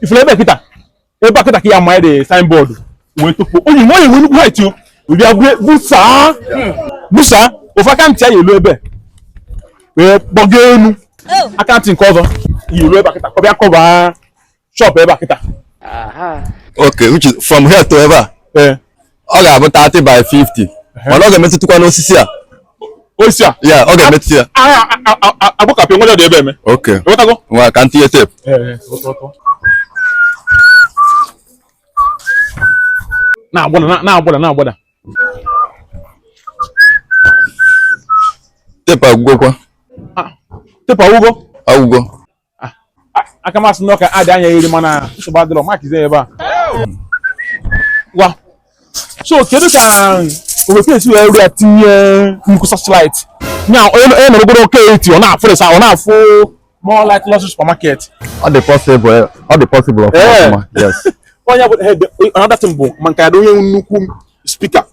ị fụrụ ebe a kịta ebe a kịta ka ya ma dị signboard wee tupu onye nwe onye nwe nnukwu radio bịa busa busa ofe aka ntị ya elu ebe wee gbago elu oh. aka ntị nke ọzọ ya elu ebe a kịta ka ọ bịa cover shop ebe a kịta okay which is from here to ebe a eh. ọ ga-abụ 30 by 50 mana ọ ga-emetụtụkwa n'osisi a osisi a yeah ọ ga-emetụta ya egbukapụ nwere dị ebe eme okay ewetago ngwa ka m tinye tape na-agbada na-agbada na-agbada tape agwụgokwa tape agwụgo agwụgo ah, aka masị na ọ ka-adị anya eri mana nsogbu adịrọ makizi ebe a ngwa so kedu ka owekwe esi wee rịa tinye nnukwu satellite nya onye nọrọgodu oke eti ọ na-afụrịsa ọ na-afụ more like lost supermarket ọ dị possible ọ dị possible of course eh. yes onye bụ another thing bụ maka ya onye nnukwu speaker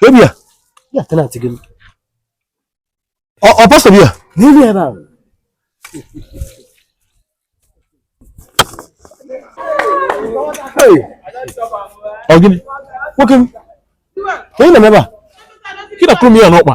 Kebia. Ya tenant gị. Ọ ọ pastor bịa. N'elu ebe ahụ. Hey. Ọ gịnị? Nwoke m. Ka ị na-eme ebe a? Ka ị na-akụrụ m ya n'ọkpa.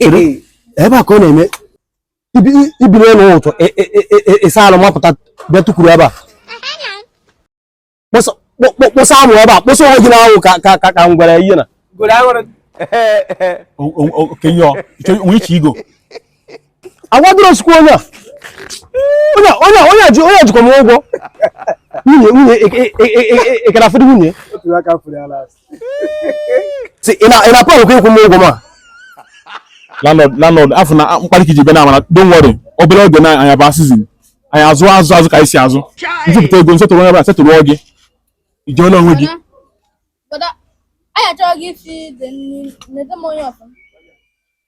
ebe a ka ọ na-eme i bilie ọnụ ụtụtụ ị saa alụ mapụta bịa tukwuru ebe a kposa amụ ebe a kposa onwe gị n'anwụ ka ka ka ngwere ihe na which ego awadoro sikwa onye a onye a- onye a- onye a ji onye a jikwa m ụgwọ nwunye nwunye e- e- e- e- e- ekere afọdụ nwunye otu aka furu ya last si ị na ị na plan kwa ịkwụ m ụgwọ ma landlord landlord afụ m na mkparị ka i ji bịa na mana don't worry obere oge na anyị abaa season anyị azụ azụ azụ ka anyị si azụ m zụpụta ego m settle onye ọbụla settle gị ijeola onwe gị Bọda, anyị achọghị gị isi dị nri, nete m anya ọfụma.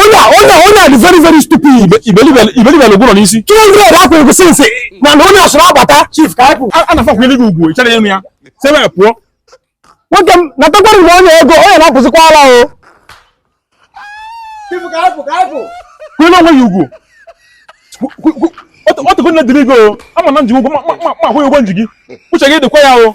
onye a onye a onye a dị very very stupid iberibe lụgwụrọ n'isi 200 akwụ ego since na na onye asụrụ agbata chief ka akwụ a na-akwanyere gị ugwu ịchara enu ya si ebe a pụọ nwoke m natakwara mgbe onye ego onye na-apụzikwa ala o kwanyere onwe ya ugwu ọtụgo nne dịrị gị o ama na m ji ụgwọ ma akwụ gị ụgwọ m ji gị uche gị dịkwa ya o